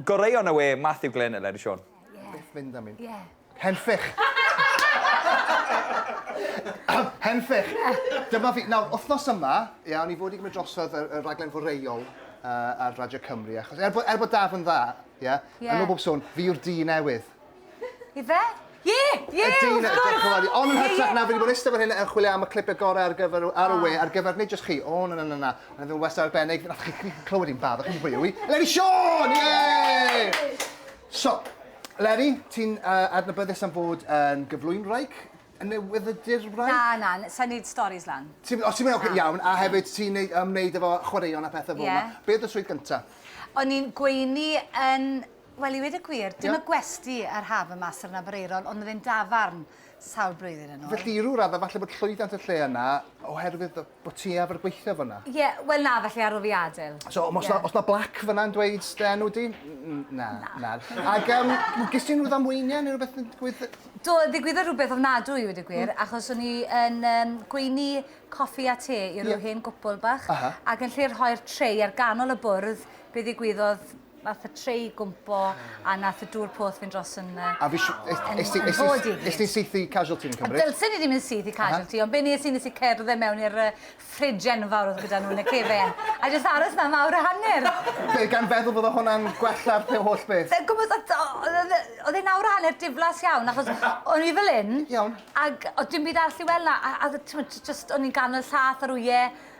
Goreuon y we, Matthew Glyn, Eleri Siôn. Byth mynd am un. Ie. Henffych! Henffych! Dyma fi. Nawr, wythnos yma, ia, o'n i fod i gymryd drosodd y, y raglen foreuol uh, ar Radio Cymru, achos er bod, er bod daf yn dda, ia, yeah. yn ôl bob sôn, fi yw'r di newydd. Ife? Ie! Ie! Y dyn y diolch yn fawr i. Ond yn hytrach na fi wedi bod yn iste fan hyn yn chwilio am y clipe gore ar gyfer ar y we ar gyfer nid jyst chi. O na na na na. Mae fe'n wastad arbennig. Nath chi chi clywed i'n barod chi'n hwyl wi. Leri Siôn! Ie! So, Leri, ti'n uh, adnabyddus am fod yn gyflwy'n wraig? Yn newyddydur wraig? Na, na, sa'n neud stories lan. Ti'n, os ti'n mynd, oce, iawn, a hefyd ti'n neud, ymwneud efo chwaraeon a pethau fel yma. Ie. Be oedd y swydd gyntaf? O'n i'n gweini yn Wel, i weud y gwir, dim y gwesty a'r haf y mas ar yn Aberaeron, ond oedd e'n dafarn sawl blwyddyn yn ôl. Felly, i ryw raddau, falle bod llwyddiant y lle yna oherwydd bod ti efo'r gweithio fanna. Ie, wel na, felly ar ôl fi adael. So, os na, os na blac fanna'n dweud dy enw di? Na, na. Ac um, gys ti'n rhyw ddamweiniau neu rhywbeth yn digwydd? Do, ddigwyddodd rhywbeth ofnadwy i wedi gwir, mm. achos o'n i yn um, gweini coffi a te i rhyw yeah. hen gwpl bach, uh -huh. ac yn lle'r rhoi'r treu ar ganol y bwrdd, be ddigwyddodd Nath y trei gwmpo a nath y dŵr poeth fynd dros yn yy... A fish- es- yn es- yn hol di gyd. Nes di saethu casualty fi'n cymryd? Dylsen i ddim yn syth i casualty uh-huh. ond be nes i nes i cerdded mewn i'r uh, fridge enfawr oedd gyda nhw yn y cefen. A jyst aros na mawr a hanner. Be gan feddwl bod o hwnna'n gwella'r pe holl beth? Sa'n gwybod, oedd e'n awr a hanner diflas iawn, achos o'n i fel un. Iawn. Ac oedd dim byd arall i weld na, a, a ti'n jyst o'n i'n ganol llath ar wyau,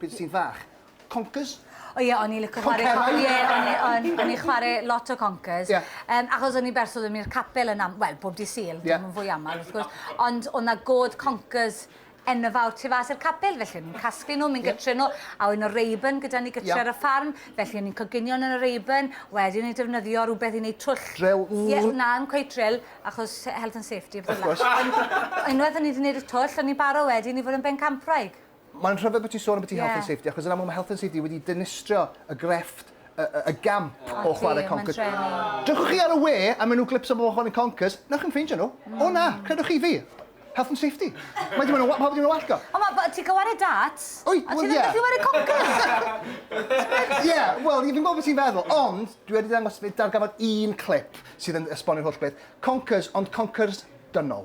Pryd ti'n fach. Conkers? O ie, o'n i lico chwarae... Conkerau? Ie, o'n i, o'n, o'n i chwarae lot o conkers. Ie. Yym, achos o'n i'n berson, o'n i'r capel yn am- wel, bob dydd Sul, Ie. dim yn fwy aml, wrth gwrs. Ond o' 'na god conkers enfawr tu fas i'r capel, felly o'n i'n casglu nhw, mynd gytre nhw, a oedd 'na Rayburn gyda ni gytre ar y ffarm, felly o'n i'n coginio yn y Rayburn, wedyn o'n i'n defnyddio rhywbeth i wneud twll. Drill? Ie, na, ddim cweit drill, achos health and safety a pethe fel 'na. Ond unwaith o'n i 'di wneud y twll, o'n i'n barod wedyn i fod yn bencampwraig. Mae'n rhyfedd bod ti'n sôn ambiti Health and Safety, achos yn amlwg mae Health and Safety wedi dynistrio y grefft, y, y, y gamp o chwarae Conkers. Dewch chi ar y we a maen nhw glips o bobl chwarae Conkers, na chi'n ffeindio nhw. Mm. O na, credwch chi fi. Health and Safety. Mae dim ond pawb ddim yn wallgo. O, mae ti'n gwario darts? Oi, wel, ie. A ti'n gallu wario Conkers? Ie, wel, fi'n gwybod beth ti'n feddwl, ond dwi wedi dangos darganfod un clip sydd yn esbonio'r holl beth. Conkers, ond Conkers dynol.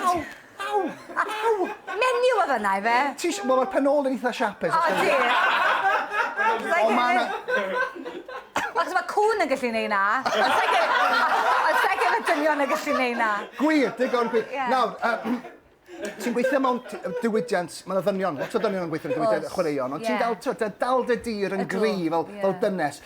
Aw! Aw! Aw! Menyw oedd yna ife? Ti isi- wel ma'r pen ôl yn eitha siapus os O diolch! Ond ma' 'na... Achos ma' cŵn yn gallu neud 'na. Ond sai credu ond sai credu ma' dynion yn gallu neud 'na. Gwir, digon gwir. Ie. Nawr, yy ti'n gweithio mewn t- yy diwydiant, ma' 'na ddynion, lot o ddynion yn gweithio yn y diwydiant, chwaraeon, ond ti'n dal t'wod, da- dal dy dir yn gryf fel fel dynes.